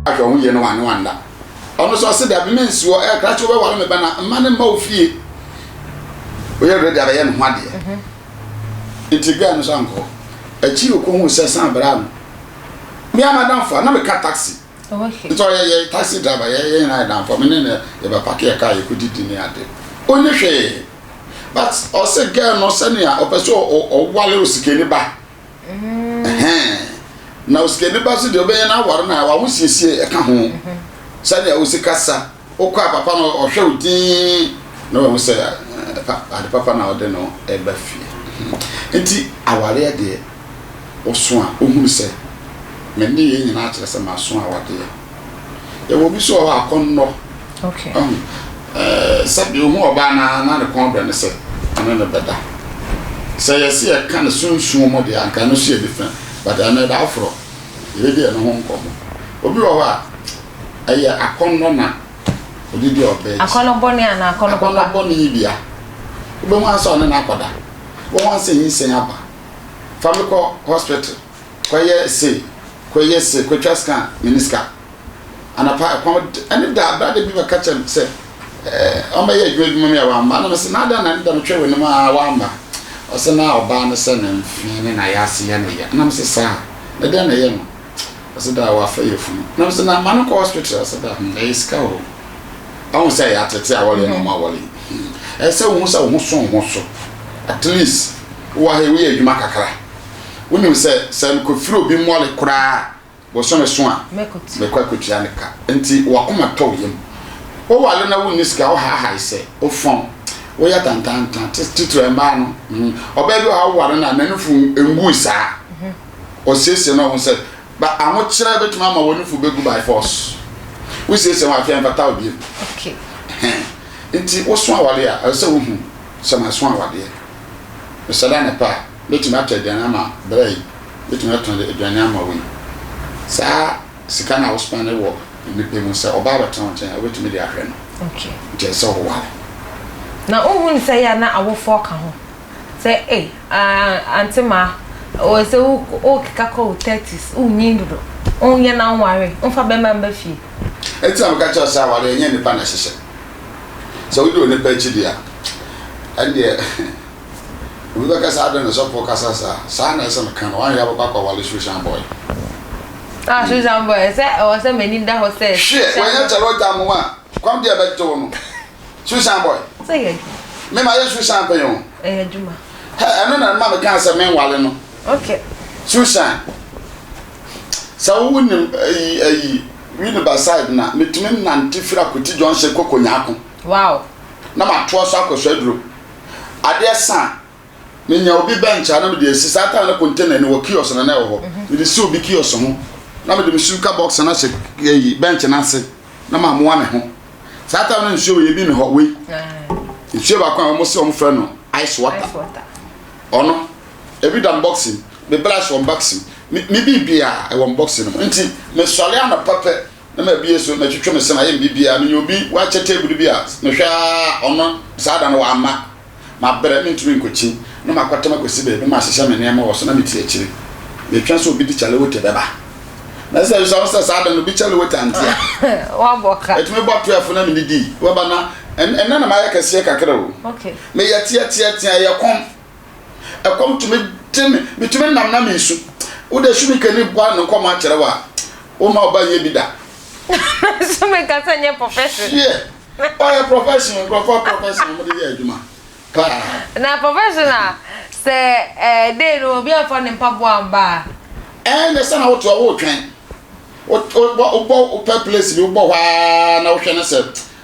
ahwɛ ho yie no wanye wanda ɔno so ɔse dabi me nsuo ɛyɛ krakye wobɛware me bɛna mma ne mma wo fie woyɛ ready abɛyɛ ne ho adeɛ mhm. nti gaa no so ankɔ akyiri ɔkɔhu sɛ san bra no me amadamfo a na meka taxi nti ɔyɛ yɛ taxi driver yɛ yɛ nyinaa danfo me ne ne yɛbɛpake yɛ kaa yɛkɔdidi ne ade ɔni hwee but ɔse girl no sɛnea ɔpɛ sɛ ɔware osikani ba na osikani ba so deɛ ɔbɛyɛ no aware no a waho siesie ɛka ho sɛnea ɔsi kasa Wokɔ a papa no ɔhwɛ wo dinn na wahu sɛ ade papa na ɔde no ba fie. Nti awareɛ deɛ ɔso a ɔhunu sɛ me nneyɛɛ nyinaa kyerɛ sɛ maso awadeɛ. Yɛwɔ obi nso wɔ hɔ akɔnnɔ. Sɛdeɛ ɔhu ɔbaa no ara na ne kɔn dɔ no sɛ ɔne no bɛda. Sɛ yɛse yɛka no sunsum mu deɛ a anka ɛno nso yɛ different but ɛno ɛda aforɔ. Yɛbɛdi ɛno ho nkɔmmɔ. Obi wɔ hɔ a, ɛyɛ akɔnnɔ na ɔde di ɔbaa akyi. Akɔnnɔ bɔne anaa akɔnnɔ papa? Akɔnnɔ bɔne yi bia. Wobɛhu ara sɛ ɔne no akɔda. Wobɛhu ara sɛ nyinsɛn aba. Fa me kɔ hospital, kɔyɛ sei, kɔyɛ sei, kɔtwa scan, menni sika. anapa ɛkɔm de ɛne da abira de bi bɛka kyerɛ me sɛ ɛɛ ɔmɛyɛ adwuma adwuma mi a wamma na mese na adan na ne da metwɛ wɔ anim a wamma ɔsɛ na ɔbaa ne sɛ ne mfee ne na yɛase yɛ ne yɛ na mese saa ne dɛn na ɛyɛ no ɔsɛ da wafa yɛ funu na mese na ma no kɔ hospital ɔsɛ da hmm, ɛyɛ sika o ɔho sɛ ɛyɛ atete a wɔle na ɔma mm-hmm. wɔle hmm. ɛsɛ wo ho sɛ wo ho so ho so at least wowɔ ha woyɛ adwuma kakra wonim sɛ sɛ mekɔfiri obi mmɔle koraa Bosome so a, mɛkɔ akɔtua ne ka. Nti w'akoma tɔ wo yam. Woware na wonni sika a, wohaahae sɛ, wofɔn, woyɛ atantantan, titire mmaa no. Ɔbaa bi wɔ ha a woware no a, n'anufo ngui saa. Ɔsiesie ne ho sɛ, but ahokyerɛ bɛtumi ama w'anufo bɛgu by force. Wosiesie ho a, afei ɛmfata wo bio. Nti woso awadeɛ a, ɛsɛ sɛ wohu sɛ maso awadeɛ. Mesɔre anɔpa a, mɛtumi atɔ aduane ama bra yi. Wobɛtumi atɔn de aduane ama wei. Saa sika no a wo spɛne wɔ nnipa mu, sɛ ɔbaa bɛtena wo nkyɛn a, wobɛtumi de ahwɛ no. Okay. Nti ɛsɛ sɛ woware. Na wonhu no sɛ yɛ a na awofoɔ ka ho? Sɛ ei, ah, Aunty Maa, oh, sɛ wo, wokeka kɔ wo thirties, wonyin dodo, wonyɛ na wonware, womfa bɛrima mma fie. Ɛno nti na meka kyerɛ wo sɛ awareɛ, ɛnyɛ nnipa na ɛhyehyɛ. Sɛ wodi onipa akyi deɛ a, ɛnneɛ. Obi bɛka sɛ, Adɛn na ɔsɔfoɔ kasa saa? Saa na ɛsɛ no ka no. Wanyɛ a wobɛkɔ akɔwale Shushan boy. Ah, Shushan boy, ɛsɛ ɛwɔ sɛ m'ani da hɔ sɛ Shushan boy. Hwɛ, wanyɛ kyɛrɛ ɔgya mo a, kɔm deɛ ɛbɛgye wo no. Shushan boy. Sɛ yɛ adwuma. Me mayɛ Shushan pɛn o. Ɛyɛ adwuma. Hɛ, ɛno na ɛma mekaa sɛ menwale no. Okay. Shushan, sɛ wo nim ayi, ayi, Winneba side no a, metumi nante firi Akwiti junction kɔ Konyako. Wow. Na matoa so akɔ Swedru. adeɛ sa a, menya obi bench a na mede asi. Saa time no container ni wɔ kiosk na na ɛwɔ hɔ. Mede si obi kiosk ho na mede me suka box no ahyɛ ɛyi bench no ase na mamoa me ho. Saa time no nsuo wei ebi ne hɔ wei. Nsuo baako a wɔn se wɔn frɛ no ice water. Ɔno ebi da box mu, me brush wɔ box mu, me biribiara ɛwɔ box no mu. Nti mesɔre anɔpa pɛ. na mabue so matwitwi me se mayɛ me biribiara menya obi wakyɛ table bi a mehwɛ ara ɔno saa da no wamma mabrɛ mentumi nkɔkyin na makɔtɛm akɔsi baabi na mahyehyɛ me nneɛma wɔ so na mete akyiri metwɛn sɛ obi de kyalewote bɛba na sɛ ɛsɛ sɛ saa da no obi kyalewote ante a wabɔ ka ɛtumi bɔ 12 na medidi waba na ɛnna na mayɛ kɛseɛ kakra o meyɛ teɛteɛteɛ ɛyɛ kɔm Ɛkɔm tumi de me, metumi nam na mesu. Wode Sumikani bɔ ano nkɔmmɔ akyerɛ wo a, womma wo ba nyɛ bi da. Sumika sɛ nyɛ profession. Hyeɛ, ɔyɛ profession, nkurɔfoɔ profession wɔde yɛ adwuma paa. Na profession a, sɛ ɛɛ dei no obi amfa ne mpaboa amba a? Ɛɛ nyɛ sɛ na wote hɔ woretwɛn, wobɔ wopɛ place bi wobɔ hɔ ara na wohwɛ no sɛ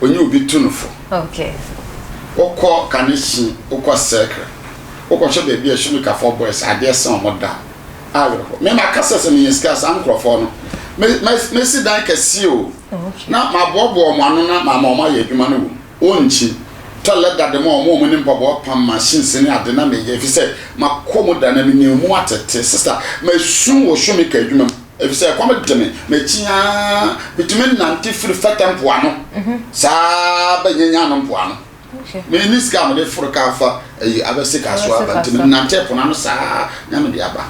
ɔnye obi tu no fo. Wokɔ Kaneshie, wokɔ Sekre, wokɔhwɛ baabi a Shulikafoɔ boys adeɛ sɛ wɔn da a, awerɛhoɔ. Me maka sɛ sɛ menya sika a, saa nkorɔfoɔ no, mɛsi dan kɛseɛ o, na maboaboa wɔn ano na mama wɔn ayɛ adwuma no wom. Wɔnkyi. Toilet da de ma wɔn, wɔn ne mpaboa pam, machines ne ade na meyɛ, ɛfiri sɛ makɔ mu da na menya mu atete. Sista, masu wɔ Shulika adwuma mu. Efisɛ ɛkɔm de me, m'akyi ara mitumi nante firi fɛtɛ mpoano saa ara bɛn Nya Nya no mpoano. Minni sika a mede foro ka fa ayi abɛ sika so aba nti menantee po no ano saa ara nya mede aba.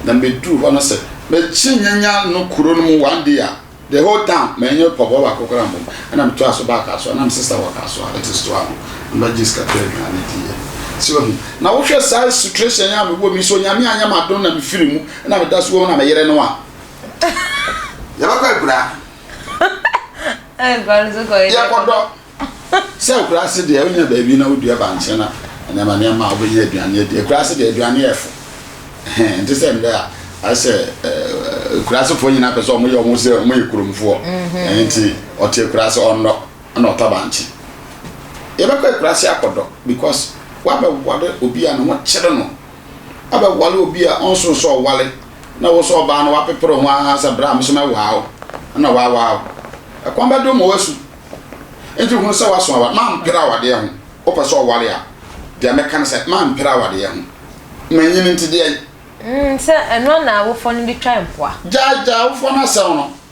Na miduu hɔ no sɛ mɛkye Nya Nya no kuro no mu one day a, the whole town manyɛ pɔbɔ baako koraa mmom. Ɛna metoaa so baa Kasoa, na me sister wɔ Kasoa that is Toa no, na mɛgye sika tɔ aduane diiɛ. So wahu? Na wohwɛ saa situation yi a mewɔ mu yi, sɛ Onyame anyɛ m'adom na mefiri mu Ɛna meda so wom na me yere no a. Yɛbɛkɔ akura. Akura no so kɔ yɛ. Yɛkɔdɔ. Sɛ akura ase deɛ wonya baabi na wodua bankye na nneɛma nneɛma a wobɛnya aduane adi. Akura ase deɛ aduane yɛ fo. Nte sɛ ndɛ a ayɛ sɛ akura asefoɔ nyinaa pɛ sɛ wɔyɛ wɔn sɛ wɔyɛ kuromfoɔ. Mhm. Nti ɔte akura ase ɔnnɔ na ɔtɔ bankye. Yɛbɛkɔ akura ase akɔdɔ because wabɛware obi a ne ho kyere no. abɛwale obi a ɔnnsoo sɛ ɔwale na wo so ɔbaa no woapeper ho ara sɛ bra me so mɛwaa wo na ɔawaa wo. Ɛkwan bɛdo ma woasu. Enti hunu sɛ woaso aware. Mamper awadeɛ ho. Wopɛ sɛ ɔwale a, deɛ mɛka ne sɛ mamper awadeɛ ho. Manyini nti deɛn? Sɛ ɛno a na awofoɔ no de twa mpoa. Gyae, gyae awofoɔ no asɛm no.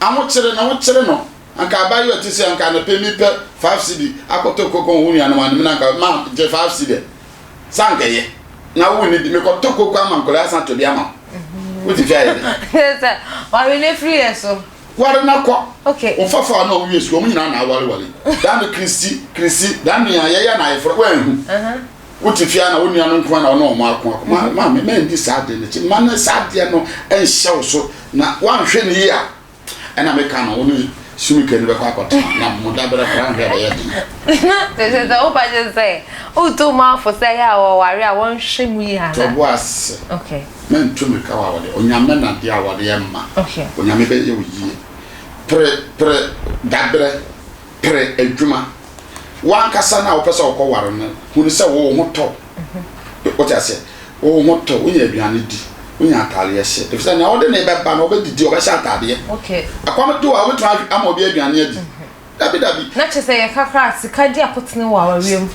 Ahokyere na wokyere no anka abaayewa ti sɛ anka anɔpɛ mi pɛ five cedi akɔtɔ koko wo nuanom anim na anka ma gye five cedi sɛ anka ɛyɛ na wo ne di mekɔ tɔ koko ama nkɔla asan to de ama wo wote fi ayɛ dɛ sɛ wari ne firi yɛ so wari na kɔ okay wo fafa ɔno ɔmo yɛ sukuu ɔmo nyinaa na awari wari daa no kirisi kirisi daa nua yɛyɛ na ayɛ foro wɛn ho. Wote fie a na wo nua no nko ara na ɔne wɔn ako ako. Ma mhm. maame ma ndi saa adeɛ no akyi. Ma no saa adeɛ no nhyɛ wo so na woanhwɛ no yie a ɛna meka no wo ne sumika no bɛkɔ akɔtena na mo dabrɛ kora nhwɛ bɛyɛ den. Te sɛ sɛ woba gye sɛ woto mu afo sɛ yɛ a wɔware a wɔnhwɛ mu yie ana. Tɔbo ase. Okay. Mɛnto me ka wa wɔde onyame na deɛ a wɔde ɛma. Okay. Onyame bɛyɛ wo yie. Pere pere dabrɛ. pere adwuma. W'ankasa no a wopɛ sɛ wokɔware no hu no sɛ wo ho tɔ wo. Wote aseɛ? Wo ho tɔ wo. Wonya aduane di, wonya ataadeɛ hyɛ. Ɛfiri sɛ nea wode ne bɛba no, ɔbɛdidi, ɔbɛhyɛ ataadeɛ. Ɛkɔm de wo a, wobɛtumi ama obi aduane adi? Dabi, dabi. Na kyerɛ sɛ yɛka koraa a, sika di akotene wɔ awareɛ mu.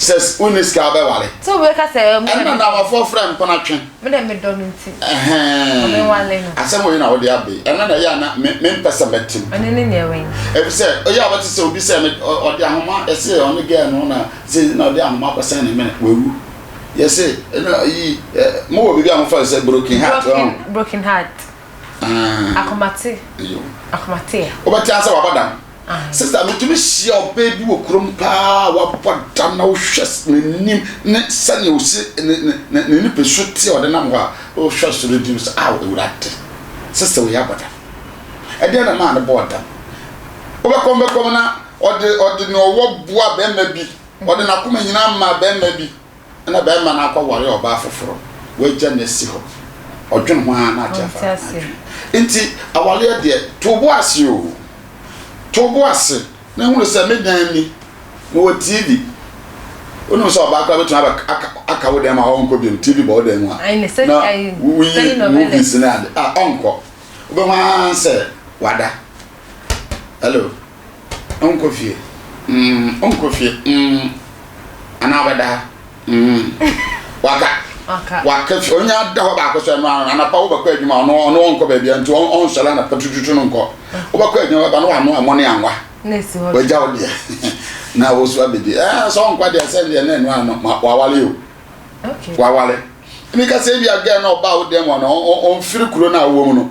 Sɛ wonni sika a wobɛware. Sɛ obi bɛka sɛ ɛɛ mo na. Ɛno na Awafoɔ frɛ mpena twe. Me na medɔ no nti. Ɛhɛn. Menwale no. Asɛm wei na wode aba yi. Ɛno na ɛyɛ a na me mempɛ sɛ mɛte mu. Ɔne no nyɛ wɛn. Efisɛ ɔyɛ a wobɛte sɛ obi sɛ me ɔde ahoma ɛse ɔne girl no na sei na ɔde ahoma akɔsɛn ne mene. Wawu. Yɛse ɛno ayi mowɔ biribi a mofa no sɛ broken heart. Broken broken heart. Akomate. Akomate ɛ. Wobɛte asɛ wabɔ dam. Sista metumi hyia ɔbaa bi wɔ kurom paa wabɔ dam na wohwɛ n'anim ne sɛnea osi ne nipasu te ɔde nam hɔ a wohwɛ so no gyina sɛ aw awurade sista wei abɔ dam. Ɛdeɛ na maa no bɔɔ dam. Wobɛkɔm bɛkɔm na ɔde ɔde ne ɔwɔ boa bɛrima bi ɔde n'akoma nyinaa maa bɛrima bi. na barima no akɔware ɔbaa foforo, wagya no asi hɔ. Ɔdwen ho ara na ate afa n'adwene. Nti awaleɛ deɛ, to bo ase o. To bo ase na hunu sɛ me dan ni, mewɔ TV. Wonim sɛ ɔbaa koraa bɛtumi aka wo dan mu a ɔnkɔ biom, TV bɔ wo dan mu a, na woyi movies ne ade a, ɔnkɔ. Wobɛhu ara sɛ wada. Hello. Ɔnkɔ fie, mm, ɔnkɔ fie, mm, anaa ɔbɛda ha, mm, waka, waka fie, ɔnya da hɔ baako sɛ no ano, anapa wobɛkɔ adwuma, ɔno ɔno ɔnkɔ baabi a nti ɔnsɔre anapa tututu no nkɔ, wobɛkɔ adwuma bɛba no wano ɛmɔ ne anwa, wagya wo deɛ, na wosu abɛdi, ɛɛ sɛ ɔnkɔ deɛ sɛ deɛ na ɛno ano, ma wawale o, wawale, ɛmi ka sɛ ebi agɛɛ na ɔba wo dɛm ɔno, ɔmfiri kuro no a wowɔ mu no,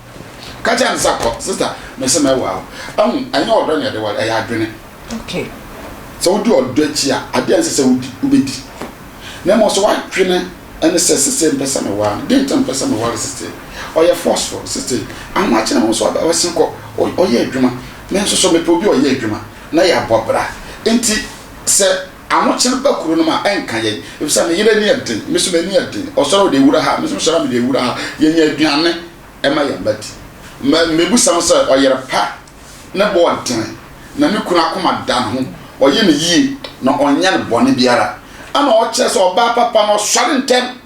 Ka kyerɛ no sɛ kɔ. Sister, mese mɛwoa wo. Ahu, ɛnyɛ ɔdɔ na ɛde ware, ɛyɛ adwene. Okay. Sɛ wodi ɔdɔ akyi a, ade a ɛnsɛ sɛ wodi, wubedi. Na mmom sɛ w'adwene ne sɛ, Sesei mepɛ sɛ meware no. Dɛn nti na mepɛ sɛ meware sesei? Ɔyɛ forceful. Sesei, ahomakye ho nso, ɔbɛsen kɔ, ɔyɛ adwuma. Me nso so, mepɛ obi a ɔyɛ adwuma, na yɛabɔ bra. Enti sɛ. Ahokyer ba kurow no mu a, ɛnnkã yɛn, efisɛ me yer ani yɛ dzen, me so m'ani yɛ dzen, ɔsoɛr a ɔde ewura ha, me so mosoɛr a mede ewura ha, yenya eduane ma hɛn mba dzi. Ma mebisa no sɛ, ɔyer pa, ne bo dzen, na no kun akoma da no ho, ɔyɛ no yie, na ɔnnyɛ no bɔn biara, ana ɔkyerɛ sɛ ɔbaa papa no ɔsoɛr ntsɛm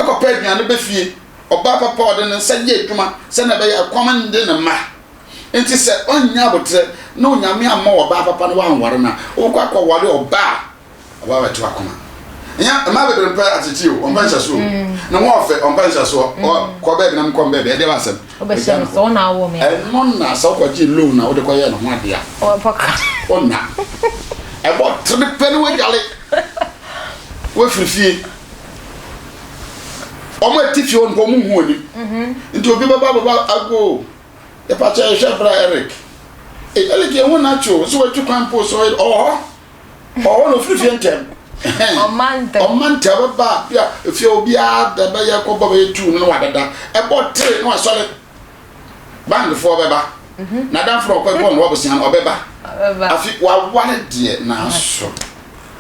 kɔpɛ eduane ba fie? Ɔbaa papa a ɔde ne nsa yɛ edwuma sɛnea ɛbɛyɛ a kɔm renngye ne mba Enti sɛ ɔnnya aboterɛ na Onyame ammɔ wo ɔbaa papa na woanware no a, wobɛkɔ akɔware ɔbaa a wabɛto akoma. Ɛnyɛ mmaa bebree mpɛ ateteɛ o, wɔmpɛ nhyɛsoɔ o. Ne ho ɔfɛ, wɔmpɛ nhyɛsoɔ. Ɔ, kɔ baabi na menkɔ baabi, ɛdeɛ w'asɛm. Wobɛhyɛ no sɛ wona awo me a. Ɛno na sɛ wokɔgyee loan na wode kɔyɛɛ ne ho adeɛ a. Ɔbɛbɔ ka. Ɔnna. Ɛbɔ tere pɛ na wadwale. Wafiri fie. Wɔn a ɛte fie hɔ no mpo, wɔnhu w'anim. Nti obi bɛba abɛbɔ ago o, Yɛpa kyɛ yɛhwɛ bra Eric. Ei Eric yɛ ho na kyo nso watu kwan po so ɔwɔ hɔ. Ɔwɔ hɔ na ofiri fie ntɛm. Ɔma ntɛm. Ɔma ntɛm bɛba bi a efie obiara da bɛyɛ kɔ bɔ bɛyɛ tuu no na wadada. Ɛbɔ tee na wasɔre. Bandfoɔ bɛba. Mhm. N'adamfo na ɔkɔ bɔ no wabusua no ɔbɛba. Ɔbɛba. Afi waware deɛ nanso.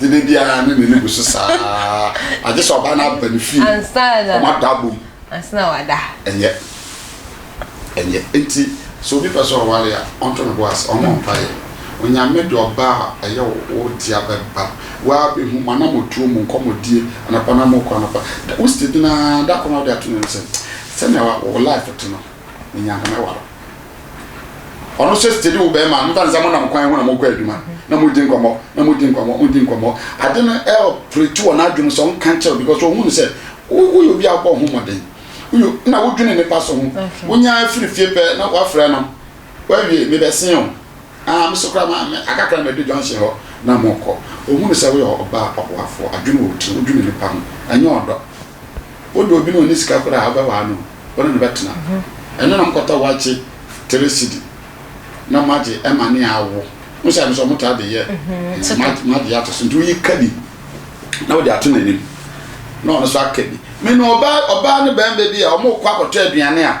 Gyede biara ne n'ani gu so saa ara. Gye sɛ ɔbaa no aba ne fie. Ansa na. Wɔn ada abom. Ansa na wɔada. Ɛnyɛ. Ɛnyɛ. Enti, sɛ obi pɛ sɛ ɔware a, ɔnto ne bo ase, ɔmmɔ mpaeɛ. Onyame de ɔbaa a ɛyɛ wo, wo dea bɛba. Woaa bɛhu, mo anammɔtuo, mo nkɔmmɔdie, anɔpa no a morekɔ anɔpa, da, wo state no ara, da koro no a wode ato ne mu sɛ, sɛdeɛ wo life te no, menya nka mɛware wo. Ɔno nso tete de wo bɛrima no mfa mo nam kwan ho na mo kɔ adwuma na mo di nkɔmɔ na mo di nkɔmɔ mo di nkɔmɔ ade no ɛwɔ pere to wɔ n'adwene sɛ ɔnka nkyɛw because ɔhu no sɛ woyɛ obi a wobɔ ho mmɔden woyɛ na wodwene nipa so ho wonya afiri fie pɛ na wafrɛ no wawie mebɛsen o ah meso kora ma akakra mɛdu junction hɔ na mokɔ ɔhu no sɛ woyɛ ɔbaa ɔboafoɔ adwene wɔ tiri wodwene nipa ho ɛnyɛ ɔdɔ Wo de obi na ɔnni sika koraa a, wobɛwaa no o, wo ne no bɛtena. Ɛno na mokɔtɔ wakye tere sidi na moagye ɛma ne awo. Wohu sɛ ɛno nso wɔtaa de yɛ magye ato so. Nti woyi ka bi na wode ato n'anim na ɔno nso aka bi. Me nim ɔbaa ne barima bi a wɔkɔ akɔtɔ aduane a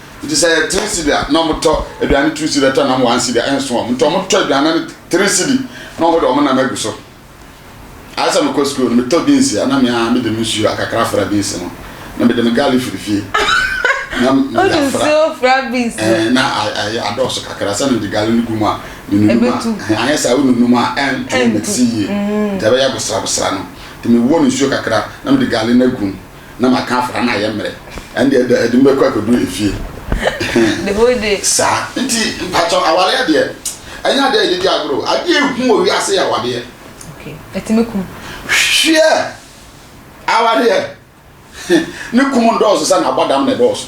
Nti sɛ ɛyɛ three cedi a na wɔtɔ aduane two cedi ɛtɔ nam one cedi a ɛnso wɔn nti wɔtɔ aduane no three cedi na wɔn de wɔn nam agu so ayɛ sɛ mekɔ sukuu no metɔ beans a na me ara mede me nsuo akakra fra beans no na mede me garlic firi fie na mede afra ɛɛ na ayɛ adɔɔso kakra sɛ mede garlic no gu mu a menunum a anyɛ sɛ wonunum a ɛnto mɛsi yie nti ɛbɛyɛ bosrabosra no nti mewɔ no nsuo kakra na mede garlic no agu mu na maka afra no ayɛ mmerɛ ɛnde ɛda adi mɛkɔ akɔduru efie the whole day saa nti mpakyɛ awareɛ deɛ ɛnyɛ adeɛ a yɛde di agorɔ adeɛ ehu wɔ wiase yɛ awadeɛ okay ɛtumi kum hwɛ awadeɛ ne kum ndɔɔso sɛ na abɔdam na ɛdɔɔso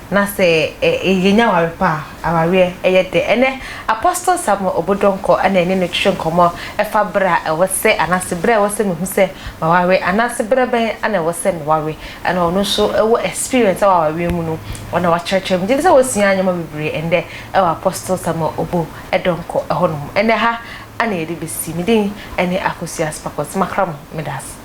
Na sɛ yɛnya aware pa a, awareɛ yɛ dɛ. Ɛnnɛ, Apostle Samuel Obo Donkor na yɛne no retwetwe nkɔmmɔ fa berɛ a ɛwɔ sɛ anaase berɛ a ɛwɔ sɛ mehu sɛ maware anaase berɛ bɛn na ɛwɔ sɛ meware. Ɛna ɔno nso wɔ experience wɔ awareɛ mu no, ɔna wakyerɛkyerɛ. Megye di sɛ woasua nneɛma bebree ɛnnɛ wɔ Apostle Samuel Obo Donkor hɔ nom. Ɛnɛ ha na yɛde bɛsi. Me din ne Akosua Sparkles. Makra mo. Meda ase.